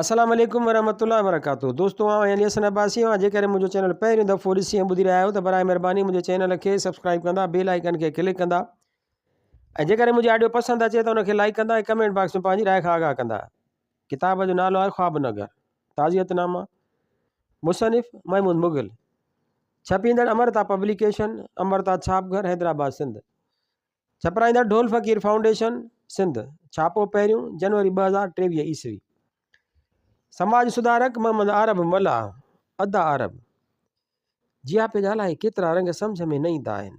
السلام عليڪم ورحمة الله وبرڪاته دوستو آئون يعني حسن عباسي آهيان جيڪڏهن منهنجو چينل پهريون دفعو ڏسي ۽ ٻڌي رهيا آهيو ته برائي مهرباني منهنجي چينل کي سبسڪرائب ڪندا بيل آئيڪن کي ڪلڪ ڪندا ۽ جيڪڏهن منهنجي آڊيو پسند اچي ته ان کي لائڪ ڪندا ۽ ڪمينٽ باڪس ۾ پنهنجي راء کان آگاهه ڪندا ڪتاب جو نالو آهي خواب نگر تعزيت نامه مصنف محمود مغل ڇپيندڙ امرتا پبليڪيشن امرتا ڇاپ گھر حيدرآباد سنڌ ڇپرائيندڙ ڍول فقير فائونڊيشن سنڌ ڇاپو پهريون جنوري ٻه هزار ٽيويهه عيسوي سماج سڌارڪ محمد عرب ملاح ادا عرب جياپي جا الاهي ڪيترا رنگ سمجھ ۾ نه ايندا آهن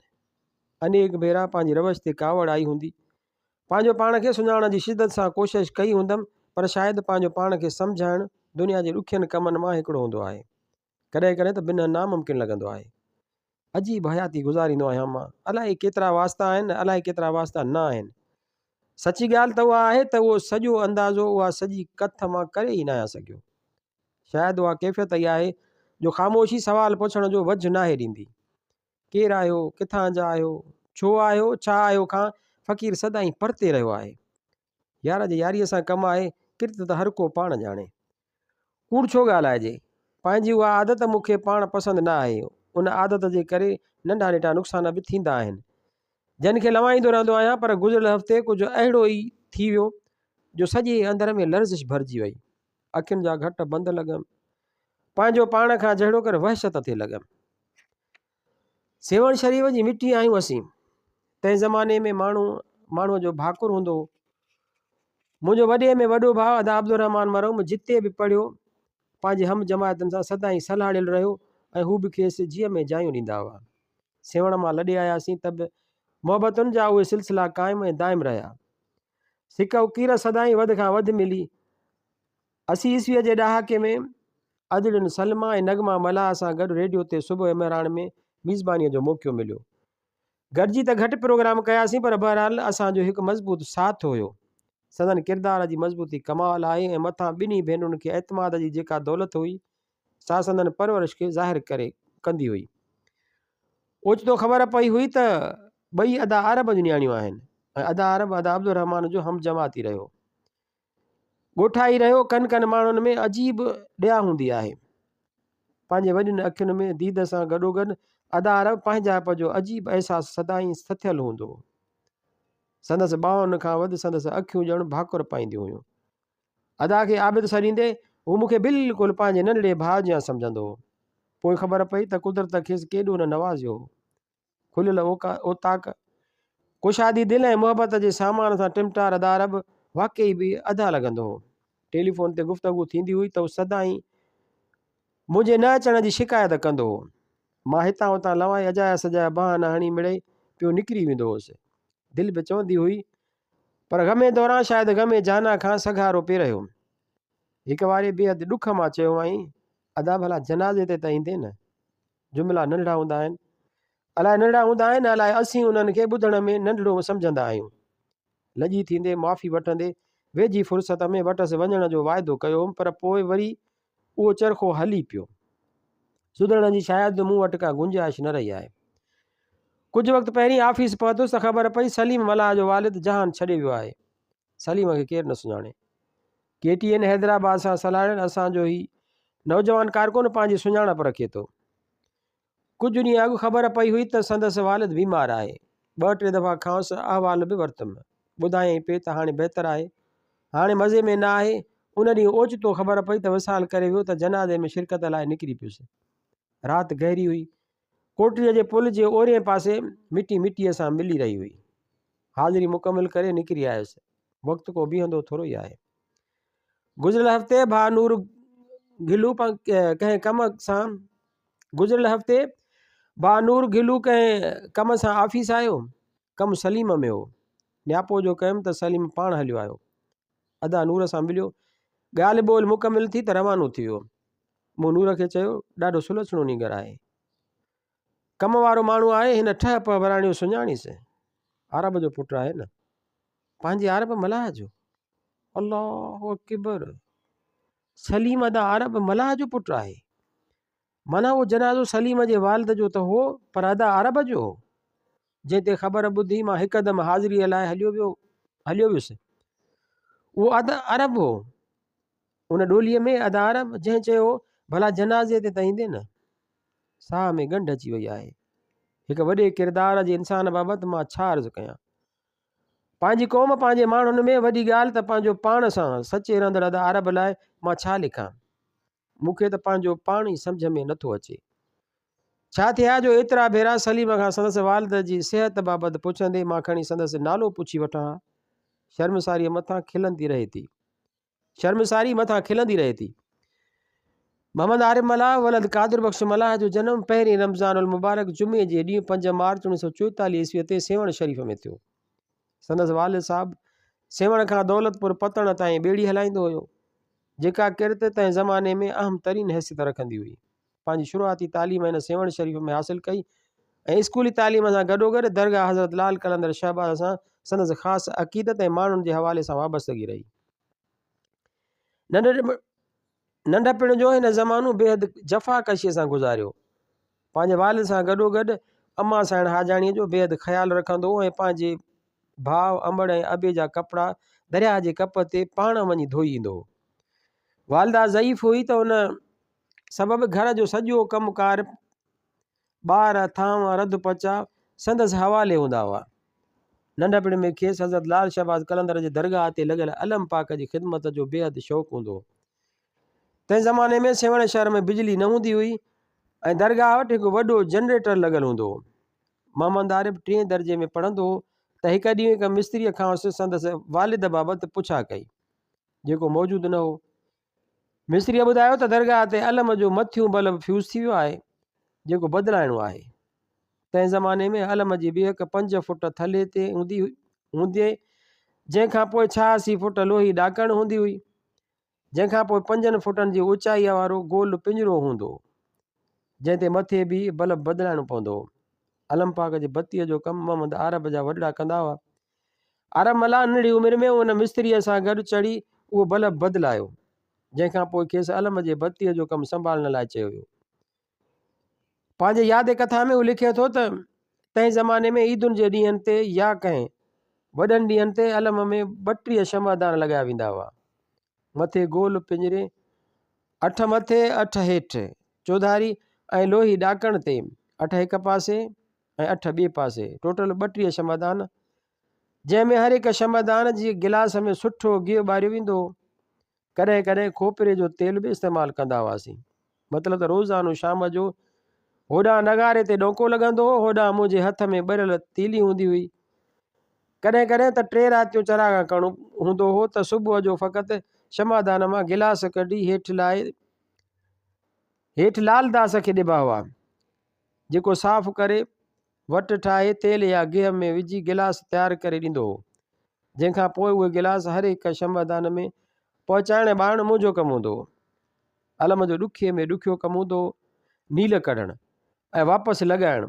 انيڪ ڀيرا پنهنجي روش تي ڪاوڙ آئي هوندي پنهنجو پاڻ کي سڃاڻڻ جي شدت سان ڪوشش ڪئي هوندم پر شايد پنهنجو پاڻ کي سمجهائڻ دنيا جي ڏکين ڪمن مان هڪڙو هوندو آهي ڪڏهن ڪڏهن ته بنهه ناممڪن لڳندو آهي. عجيب حياتي گذاريندو آهيان مان. الائي ڪيترا واسطا آهن، الائي ڪيترا واسطا نه آهن. سچي ڳالهه ته اها آهي ته اهو سڄو اندازو اها سڄي ڪٿ مان ڪري ئي ناهيان سگهيو. شايد اها ڪيفيت ئي آهي جو خاموشي سوال پڇڻ جو وجهه ناهي ڏيندي. ڪير آهيو، ڪٿان جا آهيو، ڇو آهيو، ڇا آهيو کان فقير سدائين پرتي رهيو آهي. يار جي ياريء سان ڪم آهي، ڪرت ته هر ڪو پاڻ ڄاڻي. ڪوڙ ڇو ڳالهائجي؟ پنهنجي اها عادت مون کي پاڻ پسند نه آهي. ان عادت جي ڪري ننڍا نيٽا نقصان به ٿيندا آهن، جن کي لوائيندو رهندو آهيان، پر گذريل هفتي ڪجهه اهڙو ئي ٿي ويو جو سڄي اندر ۾ لرزش ڀرجي وئي. اکين جا گهٽ بند لڳم. پنهنجو پاڻ کان جهڙوڪر وحشت ٿي لڳم. سيوهڻ شريف جي مٽي آهيون اسين تنهن زماني ۾ ماڻهو ماڻهوء جو ڀاڪر هوندو هو منهنجو وڏي ۾ وڏو ڀاء ادا عبدالرحمان مرحوم جتي به پڙهيو پنهنجي هم جماعتن سان سدائين سلهاڙيل رهيو ۽ هو به کيس جيء ۾ جايون ڏيندا هئا سيوهڻ مان لڏي آياسين ته به محبتن جا اهي سلسلا قائم ۽ دائم رهيا سڪ اڪير سدائين وڌ کان وڌ ملي اسي عيسويء جي ڏهاڪي ۾، ادڙين سلميٰ ۽ نغمه ملاح سان گڏ ريڊيو تي صبح ۽ مهراڻ ۾ ميزبانيء جو موقعو مليو. گڏجي ته گهٽ پروگرام ڪياسين پر بهرحال اسان جو هڪ مضبوط ساٿ هيو. سندن ڪردار جي مضبوطي ڪمال آهي ۽ مٿان ٻنهي ڀينرن کي اعتماد جي جيڪا دولت هئي، سا سندن پرورش کي ظاهر ڪري ڪندي هئي. اوچتو خبر پئي هئي ته ٻئي ادا عرب جون نياڻيون آهن ۽ ادا عرب ادا عبدالرحمان جو همجماعتي رهيو. ڳوٺائي رهيو ڪن ڪن ماڻهن ۾ عجيب ڏيا هوندي آهي. پنهنجي وڏين اکين ۾ ديد سان گڏوگڏ ادا عرب پنهنجائپ جو عجيب احساس سدائين سٿيل هوندو هو. سندس ٻانهن کان وڌ سندس اکيون ڄڻ ڀاڪر پائينديون هيون. ادا کي عابد سڏيندي هو مون کي بلڪل پنهنجي ننڍڙي ڀاء جيان سمجهندو هو. پوء خبر پئي ته قدرت کيس ڪيڏو نه نوازيو هو. کليل اوطاق، ڪشادي دل ۽ محبت جي سامان سان ٽمٽار ادارب واقعي به ادا لڳندو هو. ٽيليفون تي گفتگو ٿيندي هئي ته هو سدائين منهنجي نه اچڻ جي شڪايت ڪندو هو. مان هتان هتان لوائي اجايا سجايا بهانا هڻي مڙئي پيو نڪري ويندو هوس. دل به چوندي هئي پر غمي دوران شايد غمي جانا کان سگهارو پئي رهيو. هڪ واري بيحد ڏک مان چيو هئائين ادا ڀلا جنازي تي ته ايندين نه؟ جملا ننڍڙا هوندا آهن. الاء ننڍڙا هوندا آهن الاء اسين انهن کي ٻڌڻ ۾ ننڍڙو سمجهندا آهيون. لڄي ٿيندي معافي وٺندي ويجهي فرصت ۾ وٽس وڃڻ جو واعدو ڪيو هوم پر پوء وري اهو چرخو هلي پيو. سڌرڻ جي شايد مون وٽ ڪا گنجائش نه رهي آهي. ڪجهه وقت پهرين آفيس پهتس ته خبر پئي سليم ملاح جو والد جهان ڇڏي ويو آهي. سليم کي ڪير نه سڃاڻي. ڪي ٽي اين حيدرآباد سان سلهاڙين اسان جو هي نوجوان ڪارڪن پنهنجي سڃاڻپ رکي ٿو. ڪجهه ڏينهن اڳ خبر پئي هئي ته سندس والد بيمار آهي. ٻه ٽي دفعا کانئس احوال به ورتم. ٻڌايائين پئي ته هاڻي بهتر آهي. هاڻي مزي ۾ نه آهي. ان ڏينهن اوچتو خبر پئي ته وصال ڪري ويو ته جنازي ۾ شرڪت لاء نڪري پيس. رات گهري هئي. ڪوٽڙيء جي پل جي اورئين پاسي مٽي مٽيء سان ملي رهي هئي. حاضري مڪمل ڪري نڪري آيس. وقت ڪو بيهندو ٿورو ئي آهي. گذريل هفتي ڀاء نور گهلو ڪنهن ڪم سان گذريل هفتي ڀاء نور گهلو ڪنهن ڪم سان آفيس آيو. ڪم سليم ۾ هو. نياپو جو ڪيم ته سليم پاڻ هليو آيو. ادا نور سان مليو، ڳالهه ٻولهه مڪمل ٿي ته روانو ٿي ويو. مون نور کي چيو، ڏاڍو سلڇڻو نينگر آهي. ڪم وارو ماڻهو آهي، هن ٺهه پهه وراڻيو سڃاڻيس. عرب جو پٽ آهي نه، پنهنجي عرب ملاح جو. الله اڪبر! سليم ادا عرب ملاح جو پٽ آهي. معنيٰ اهو جنازو سليم جي والد جو ته هو پر ادا عرب جو هو، جنهن تي خبر ٻڌي مان هڪدم حاضريء لاء هليو ويو هليو ويس. اهو ادا عرب هو. ان ڏوليء ۾ ادا عرب جنهن چيو ڀلا جنازي تي ته ايندين نه. ساهه ۾ ڳنڍ اچي وئي آهي. هڪ وڏي ڪردار جي انسان بابت مان ڇا عرض ڪيان. پنهنجي قوم پنهنجي ماڻهن ۾ وڏي ڳالهه ته پنهنجو پاڻ سان سچي رهندڙ ادا عرب لاء مان ڇا لکان. مون کي ته پنهنجو پاڻ ئي سمجهه ۾ نٿو اچي. ڇا ٿئي ها جو ايترا ڀيرا سليم کان سندس والده جي صحت بابت پڇندي مان کڻي سندس نالو پڇي وٺان ها. شرمساريء مٿان کلندي رهي ٿي. شرمساري مٿان کلندي رهي ٿي. محمد عارف ملاح ولد قادر بخش ملاح جو جنم پهرين رمضان المبارڪ جمعي جي ڏينهن پنج مارچ اڻيهه سؤ چوئيتاليهه عيسويء تي سيوهڻ شريف ۾ ٿيو. سندس والد صاحب سيوهڻ کان دولت پور پتڻ تائين ٻيڙي هلائيندو هيو، جيڪا ڪرت تنهن زماني ۾ اهم ترين حيثيت رکندي هئي. پنهنجي شروعاتي تعليم هن سيوهڻ شريف ۾ حاصل ڪئي ۽ اسڪولي تعليم سان گڏوگڏ درگاهه حضرت لعل قلندر شهباز سان سندس خاص عقيدت ۽ ماڻهن جي حوالي سان وابستگي رهي. ننڍڙي ننڍپڻ جو هن زمانو بيحد جفاڪشيء سان گذاريو. پنهنجي والد سان گڏوگڏ امان سائڻ حاجاڻيء جو بيحد خيال رکندو هو ۽ پنهنجي ڀاء امڙ ۽ ابي جا ڪپڙا درياهه جي ڪپ تي پاڻ وڃي ڌوئي ايندو هو. والده ضعيف هئي ته ان سبب گهر جو سڄو ڪم ڪار ٻار، ٿانء، رڌ پچاء سندس حوالي هوندا هئا. ننڍپڻ ۾ کيس حضرت لعل شهباز قلندر جي درگاهه تي لڳل علم پاڪ جي خدمت جو بيحد شوق هوندو هو. تنهن زماني ۾ سيوهڻ شهر ۾ بجلي نه هوندي هئي ۽ درگاهه وٽ هڪ وڏو جنريٽر لڳل هوندو هو. محمد عارف ٽئين درجي ۾ پڙهندو هو ته هڪ ڏينهن هڪ مستريء کانئس سندس والد بابت پڇا ڪئي، جيڪو موجود نه هو. مصريء ٻڌايو ته درگاهه تي علم جو مٿيون بلب فيوز ٿي ويو آهي جيڪو بدلائڻو آهي. تنهن زماني ۾ علم جي ٻيهڪ پنج فوٽ ٿلهي تي هوندي هئي جنهن کان پوء ڇهاسي فوٽ لوهي ڏاڪڻ هوندي هئي جنهن کان پوء پنجن فوٽن جي اوچائيء وارو گول پڃرو هوندو هو جنهن تي مٿي بيهي بلب بدلائڻو پوندو هو. علم پاڪ جي بتيء جو ڪم محمد عارب جا وڏڙا ڪندا هئا ارملا ننڍڙي عمر ۾ ان مستريء سان گڏ چڙهي اهو بلب بدلايو، جنهن کان پوء کيس علم جي بتيء جو ڪم سنڀالڻ لاء چيو ويو. پنهنجي ياد ڪٿا ۾ هو لکي ٿو ته، تنهن زماني ۾ عيدن جي ڏينهن تي يا ڪنهن وڏن ڏينهن تي علم ۾ ٻٽيهه شمعدان لڳايا ويندا هئا. مٿي گول پڃري، اٺ مٿي، اٺ هيٺ، چوڌاري ۽ لوهي ڏاڪڻ تي، اٺ هڪ پاسي، ۽ اٺ ٻئي پاسي، ٽوٽل ٻٽيهه شمعدان، جنهن ۾ هر هڪ شمعدان جي گلاس ۾ سٺو گيهه ٻاريو ويندو هو. ڪڏهن ڪڏهن کوپري جو تيل به استعمال ڪندا هئاسين. مطلب ته روزانو شام جو هوڏانهن نغاري تي ڏونڪو لڳندو هو، هوڏانهن منهنجي هٿ ۾ ٻريل تيلي هوندي هئي. ڪڏهن ڪڏهن ته ٽي راتيون چراغان ڪرڻو هوندو هو ته صبح جو فقط شمعدان مان گلاس ڪڍي هيٺ لائي هيٺ لعل داس کي ڏبا هئا. جيڪو صاف ڪري، وٽ ٺاهي، تيل يا گيهه ۾ وجهي گلاس تيار ڪري ڏيندو هو، جنهن کان پوء اهي گلاس هر هڪ شمعدان ۾ پهچائڻ ۽ ٻارڻ منهنجو ڪم هوندو هو. علم جو ڏکي ۾ ڏکيو ڪم هوندو هو نيل ڪڍڻ ۽ واپس لڳائڻ.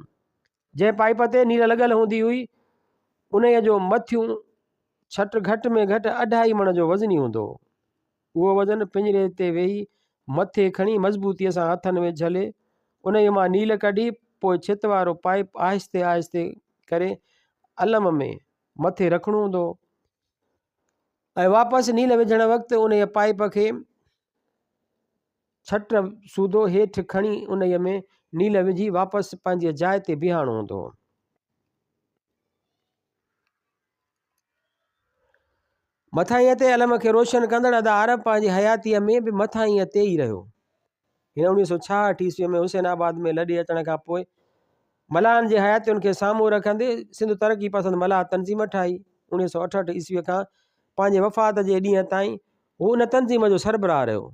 جنهن پائيپ تي نيل لڳل هوندي هئي، انهيء جو مٿيون ڇٽ گهٽ ۾ گهٽ اڍائي مڻ جو وزني هوندو هو. اهو وزن پڃري تي ويهي مٿي کڻي مضبوطيء سان هٿن ۾ جهلي، انهيء مان نيل ڪڍي، پوء ڇت وارو پائيپ آهستي آهستي ڪري الم ۾ مٿي رکڻو هوندو هو ۽ واپس نيل وجهڻ وقت انهيء پائيپ کي ڇٽ سوڌو هيٺ کڻي انهيء ۾ نيل وجهي واپس پنهنجي جاء تي بيهاڻو هوندو هو. مٿانهينء تي علم کي روشن ڪندڙ ادا عرب پنهنجي حياتيء ۾ به مٿانهينء تي ئي رهيو. هن اڻويهه سؤ ڇاهٺ عيسويء ۾ حسين آباد ۾ لڏي اچڻ کان پوء ملاحن جي حياتين کي سامهون رکندي سنڌ ترقي پسند ملاح تنظيم ٺاهي. اڻويهه سؤ اٺهٺ عيسويء کان پنهنجي وفات جي ڏينهن تائين هو ان تنظيم جو سربراهه رهيو،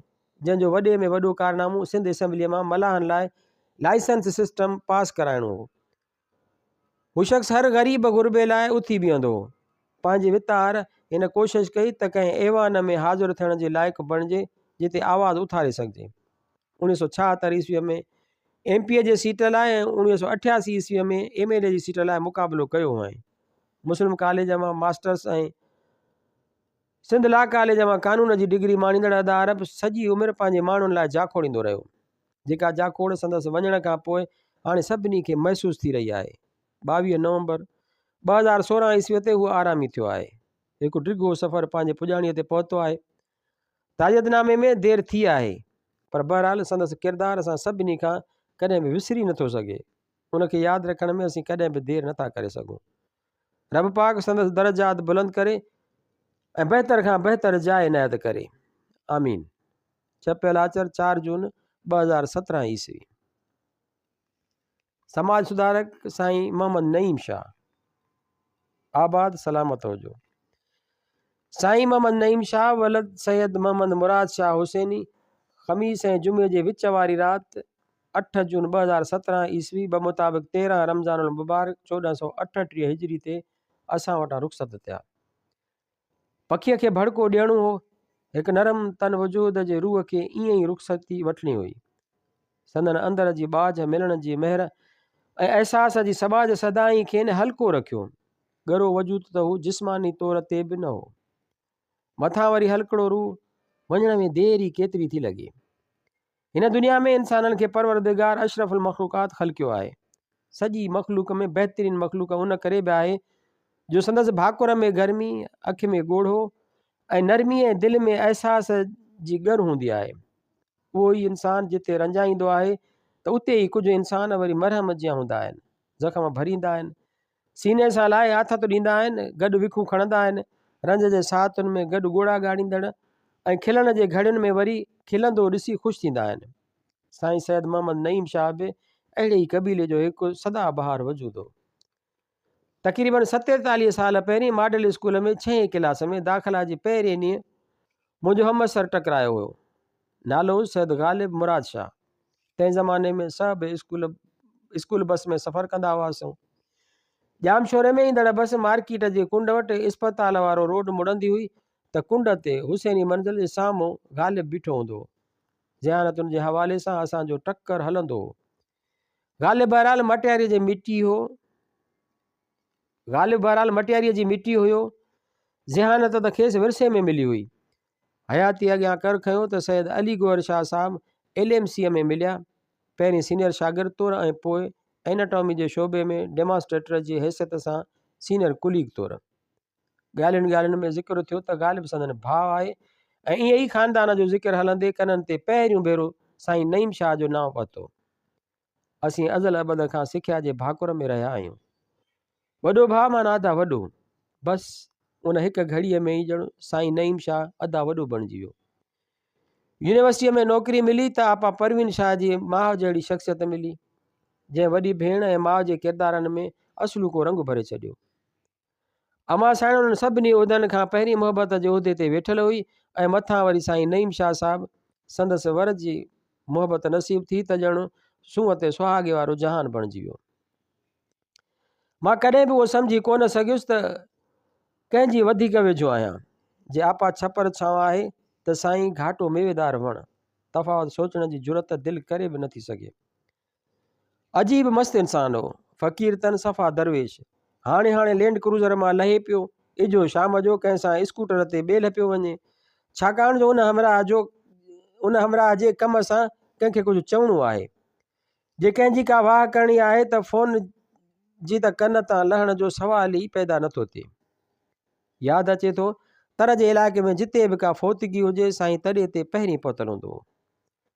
جنهن جو وڏي ۾ وڏو ڪارنامو سنڌ اسيمبليء مان ملاحن لاء لائسنس سسٽم پاس ڪرائڻو هو. هو شخص هر غريب غربي لاء اٿي بيهندو هو. پنهنجي وتار، هن ڪوشش ڪئي ته ڪنهن ايوان ۾ حاضر ٿيڻ جي لائق بڻجي جتي آواز اٿاري سگهجي. اوڻيهه سؤ ڇاهتر عيسويء ۾ ايم پي اي جي سيٽ لاء ۽ اوڻيهه سؤ اٺياسي عيسويء ۾ ايم ايل اي جي سيٽ لاء مقابلو ڪيو هئائين. مسلم ڪاليج مان ماسٽرس ۽ سنڌ لا ڪاليج مان قانون جي ڊگري ماڻيندڙ ادا عرب سڄي عمر پنهنجي ماڻهن لاء جاکوڙيندو رهيو. جيڪا جاکوڙ سندس وڃڻ کان پوء هاڻي سڀني کي محسوس ٿي رهي آهي. ٻاويهه نومبر ٻه هزار سورهن عيسويء تي هو آرامي ٿيو آهي. هڪ ڊگهو سفر پنهنجي پڄاڻيء تي پهتو آهي. تعزيت نامي ۾ دير ٿي آهي پر بهرحال سندس ڪردار اسان سڀني کان ڪڏهن به وسري نه ٿو سگهي. ان کي ياد رکڻ ۾ اسين ڪڏهن به دير نه ٿا ڪري سگهون. رب پاڪ سندس درجات بلند ڪري ۽ بهتر کان بهتر جاء عنايت ڪري. آمين. ڇپيل آچر چار جون ٻه هزار سترهن عيسوي سماج سڌارڪ سائين محمد نعيم شاهه آباد سلامت هجو سائين محمد نعيم شاهه ولد سيد محمد مراد شاهه حسيني خميس ۽ جمعي جي وچ واري رات اٺ جون ٻه هزار سترهن عيسوي به مطابق تيرهن رمضان المبارڪ چوڏهن سو اٺ ٽيهه هجري تي اسان وٽان رخصت ٿيا پکيء کي ڀڙڪو ڏيڻو هو. هڪ نرم تن وجود جي روح کي ائين ئي رخصتي وٺڻي هئي. سندن اندر جي ٻاجهه ملڻ جي مهر ۽ احساس جي سٻاجهه سدائين کين هلڪو رکيو. ڳرو وجود ته هو جسماني طور تي به نه هو. مٿان وري هلڪڙو روح، وڃڻ ۾ دير ئي ڪيتري ٿي لڳي. هن دنيا ۾ انسانن کي پروردگار اشرف المخلوقات خلقيو آهي. سڄي مخلوق ۾ بهترين مخلوق ان ڪري به آهي جو سندس ڀاڪر ۾ گرمي، اک ۾ ڳوڙهو ۽ نرمي ۽ دل ۾ احساس جي ڳر هوندي آهي. اهو ئي انسان جتي رنجائيندو آهي ته اتي ئي ڪجهه انسان وري مرهم جيان هوندا آهن، زخم ڀريندا آهن، سيني سان لائي آٿت ڏيندا آهن، گڏ وکون کڻندا آهن، رنج جي ساعتن ۾ گڏ ڳوڙها ڳاڙيندڙ ۽ کلڻ جي گهڙين ۾ وري کلندو ڏسي خوش ٿيندا آهن. سائين سيد محمد نعيم شاهه به اهڙي ئي قبيلي جو هڪ سدا بهار وجود هو. تقريبن ستيتاليهه سال پهرين ماڊل اسڪول ۾ ڇهين ڪلاس ۾ داخلا جي پهرين ڏينهن منهنجو همعصر ٽڪرايو هيو. نالو هيس سيد غالب مراد شاهه. تنهن زماني ۾ سڀ اسڪول اسڪول بس ۾ سفر ڪندا هئاسون. ڄامشوري ۾ ايندڙ بس مارڪيٽ جي ڪنڊ وٽ اسپتال وارو روڊ مڙندي هئي ته ڪنڊ تي حسيني منزل جي سامهون غالب بيٺو هوندو هو. ذهانت ان جي حوالي سان اسان جو ٽڪر هلندو هو. غالب بهرحال مٽياريء جي مٽي هو. غالب بهرحال مٽياريء جي مٽي هيو. ذهانت ته کيس ورثي ۾ ملي هئي. حياتيء اڳيان ڪر کنيو ته سيد علي گوهر شاهه صاحب ايل ايم سيء ۾ مليا. پهرين سينئر شاگرد طور ۽ پوء ايناٽامي جي شعبي ۾ ڊيمانسٽريٽر جي حيثيت سان سينئر ڪليگ طور. ڳالهين ڳالهين ۾ ذڪر ٿيو ته غالب سندن ڀاء آهي ۽ ائين ئي خاندان جو ذڪر هلندي ڪنن تي پهريون ڀيرو سائين نعيم شاهه جو نانء پتو. اسين ازل ابد کان سکيا جي ڀاڪر ۾ رهيا آهيون. وڏو ڀاء معنيٰ ادا وڏو. بس ان هڪ گهڙيء ۾ ئي ڄڻ سائين نعيم شاهه ادا وڏو بڻجي ويو. يونيورسٽيء ۾ نوڪري ملي ته آپا پروين شاهه جي ماء جهڙي شخصيت ملي، جنهن وڏي ڀيڻ ۽ ماء جي ڪردارن ۾ اصلوڪو رنگ ڀري ڇڏيو. امان سائڻ انهن سڀني عهدن کان پهرين محبت جي عهدي تي ويٺل هئي ۽ مٿان وري سائين نعيم شاهه صاحب سندس ور جي محبت نصيب ٿي ته ڄڻ سونهن تي سهاڳي وارو جهان بڻجي ويو مان ڪڏهن به اهو سمجهي ڪونه سگهيس ته ڪنهن جي وڌيڪ ويجهو آهيان جي آپا ڇپر ڇانو آهي ته سائين گهاٽو ميويدار وڻ تفاوت سوچڻ جي جرت دل ڪري به نٿي سگهي عجيب مست انسان هو. فقير تن صفا درويش. هاڻي هاڻي لينڊ ڪروزر مان لهي پيو. اجهو شام جو ڪنهن سان اسڪوٽر تي ٻيلهه پيو وڃي. ڇاڪاڻ جو ان همراهه جو ان همراهه جي ڪم سان ڪنهن کي ڪجهه چوڻو آهي. جي ڪنهن جي ڪا واهه ڪرڻي آهي ته فون جي ته ڪن تان لهڻ جو سوال ئي پيدا نه ٿو ٿئي. ياد اچي ٿو تر جي علائقي ۾ جتي به ڪا فوتگي هجي سائين تڏي تي پهرين پهتل هوندو هو.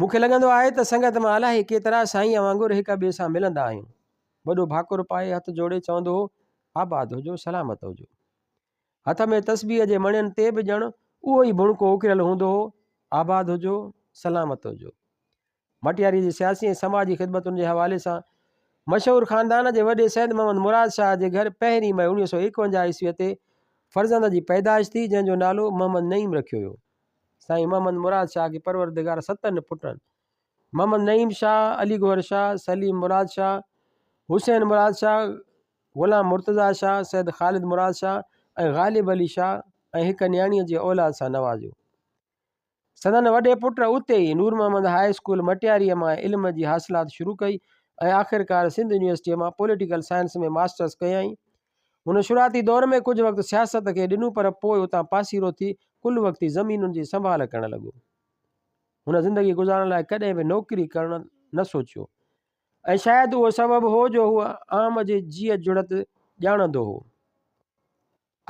مون کي لڳندو آهي ته سنگت مان الاهي ڪيترا سائينء وانگر هڪ ٻئي سان ملندا آهيون. وڏو ڀاڪر پائي هٿ جوڙي چوندو هو، آباد هجو، سلامت هجو. هٿ ۾ تسبيح جي مڻين تي به ڄڻ اهو ئي ڀڻڪو اڪريل هوندو هو، آباد هجو، سلامت هجو. مٽياريء جي سياسي ۽ سماجي خدمتن جي حوالي سان مشهور خاندان جي وڏي سيد محمد مراد شاهه جي گهر پهرين مئي اڻويهه سؤ ايڪونجاهه عيسويء تي فرزند جي پيدائش ٿي، جنهن جو نالو محمد نعيم رکيو ويو. سائين محمد مراد شاهه کي پروردگار ستن پٽن محمد نعيم شاهه، علي گوهر شاهه، سليم مراد شاهه، حسين مراد شاهه، غلام مرتضيٰ شاهه، سيد خالد مراد شاهه ۽ غالب علي شاهه ۽ هڪ نياڻيء جي اولاد سان نوازيو. سندن وڏي پٽ اتي ئي نور محمد هاء اسڪول مٽياريء مان علم جي حاصلات شروع ڪئي ۽ آخرڪار سنڌ يونيورسٽيء مان پوليٽيڪل سائنس ۾ ماسٽرس ڪيائين. هن شروعاتي دور ۾ ڪجهه وقت سياست کي ڏنو پر پوء اتان پاسيرو ٿي ڪل وقتي زمينن جي سنڀال ڪرڻ لڳو. هن زندگي گذارڻ لاء ڪڏهن به نوڪري ڪرڻ نه سوچيو ۽ شايد اهو سبب هو جو هو عام جي جيء جڙت ڄاڻندو هو.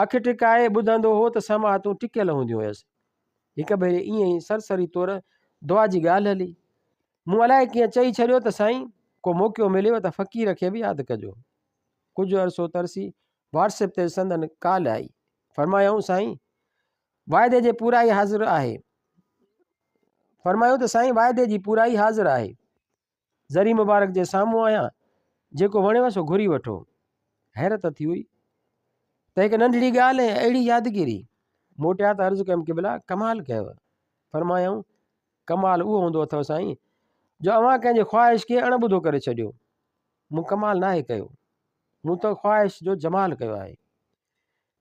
اک ٽڪائي ٻڌندو هو ته سماعتون ٽڪيل هونديون هيس. هڪ ڀيري ائين ئي سرسري طور دعا جي ڳالهه هلي. مون الائي ڪيئن چئي ڇڏيو ته سائين ڪو موقعو مليو ته فقير کي به ياد ڪجو. ڪجهه عرصو ترسي واٽس ايپ تي سندن ڪال آئي. فرمايائون سائين! واعدي جي پورائي حاضر آهي. فرمايو ته سائين واعدي جي پورائي حاضر آهي. ذري مبارڪ جي سامهون آهيان، جيڪو وڻيو سو گهري وٺو. حيرت ٿي هئي ته هڪ ننڍڙي ڳالهه ۽ اهڙي يادگيري. موٽيا ته عرض ڪيم قبلا ڪمال ڪيو. فرمايائون ڪمال اهو هوندو اٿو سائين جو اوهان ڪنهن جي خواهش کي اڻ ٻڌو ڪري ڇڏيو. مون ڪمال ناهي ڪيو، مون ته خواهش جو جمال ڪيو آهي.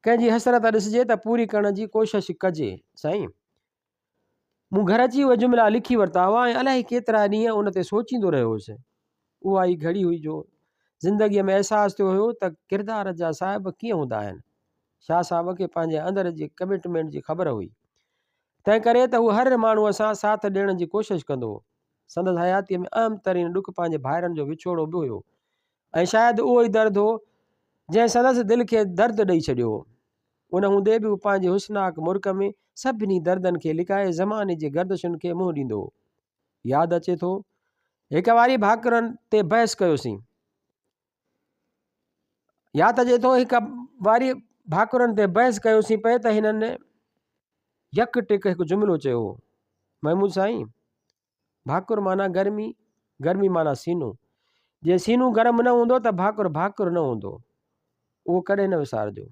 ڪنهن جي حسرت ڏسجي ته پوري ڪرڻ جي ڪوشش ڪجي سائين. مون گهر اچي اهي جملا لکي ورتا هئا ۽ الائي ڪيترا ڏينهن ان تي سوچيندو رهيو هوس. اها ئي گهڙي هئي جو زندگيء ۾ احساس ٿيو هيو ته ڪردار جا صاحب ڪيئن هوندا آهن. شاهه صاحب کي پنهنجي اندر جي ڪمٽمينٽ جي خبر هئي. تنهن ڪري ته هو هر ماڻهوء سان ساٿ ڏيڻ جي ڪوشش ڪندو هو. سندس حياتيء ۾ اهم ترين ڏک پنهنجي ڀائرن جو وڇوڙو به هيو ۽ شايد اهو ئي درد هو، جنهن سندس دل کي درد ڏئي ڇڏيو هو. ان هوندي به هو پنهنجي حسناڪ مرڪ ۾ سڀني دردن کي لڪائي زماني جي گردشن کي منهن ڏيندو هو. ياد اچي ٿو، هڪ واري ڀاڪرن تي بحث ڪيوسين. ياد اچي ٿو هڪ واري ڀاڪرن تي بحث ڪيوسين پئي ته هنن يڪ ٽڪ هڪ جملو چيو هو محمود سائين ڀاڪر معنی گرمي گرمي معنی سينو جي سينو گرم نه هوندو ته ڀاڪر ڀاڪر نه هوندو اهو ڪڏهن نه وسارجو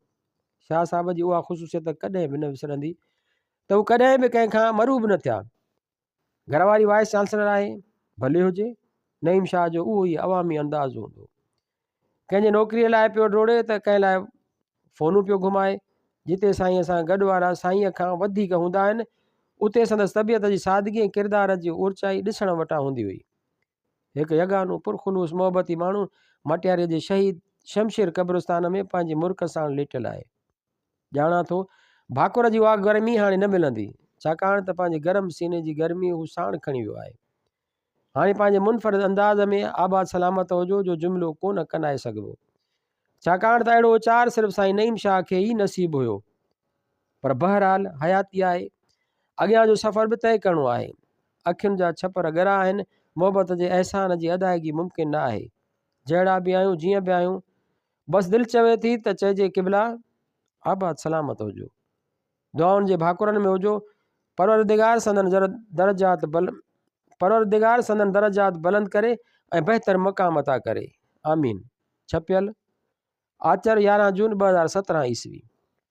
شاهه صاحب جي اها خصوصيت ڪڏهن به نه وسرندي ته هو ڪڏهن به ڪنهن کان مروب نه ٿيا گهر واري وائيس چانسلر آهي، ڀلي هجي، نعيم شاهه جو اهو ئي عوامي انداز هوندو. ڪنهن جي نوڪريء لاء پيو ڊوڙي ته ڪنهن لاء فونون پيو گهمائي. جتي سائينء سان گڏ وارا سائينء کان وڌيڪ هوندا آهن، اتي سندس طبيعت جي سادگي ۽ ڪردار جي اورچائي ڏسڻ وٽان هوندي هئي. هڪ يگانو پرخلوص محبتي ماڻهو مٽياري جي شهيد شمشير قبرستان ۾ پنهنجي مرڪ ساڻ ليٽيل آهي. ڄاڻان ٿو ڀاڪر جي اها گرمي هاڻي نه ملندي، ڇاڪاڻ ته پنهنجي گرم سيني جي گرمي هو ساڻ کڻي ويو آهي. هاڻي پنهنجي منفرد انداز ۾ آباد سلامت هجو جو جملو ڪونه ڪنائي سگهبو. ڇاڪاڻ ته اهڙو اچار صرف سائين نعيم شاهه کي ئي نصيب هيو. پر بهرحال حياتي آهي. اڳيان جو سفر به طئي ڪرڻو آهي. اکين جا ڇپر ڳرا آهن، محبت جي احسان جي ادائيگي ممڪن نه آهي. جهڙا به آهيون، جيئن به آهيون، بس دل چوي ٿي ته چئجي قبلا آباد سلامت هجو. دعائن جي ڀاڪرن ۾ هجو، پروردگار سندن درجات پروردگار سندن درجات بلند ڪري ۽ بهتر مقام عطا ڪري آمين ڇپيل آچر يارهن جون ٻه هزار سترهن عيسوي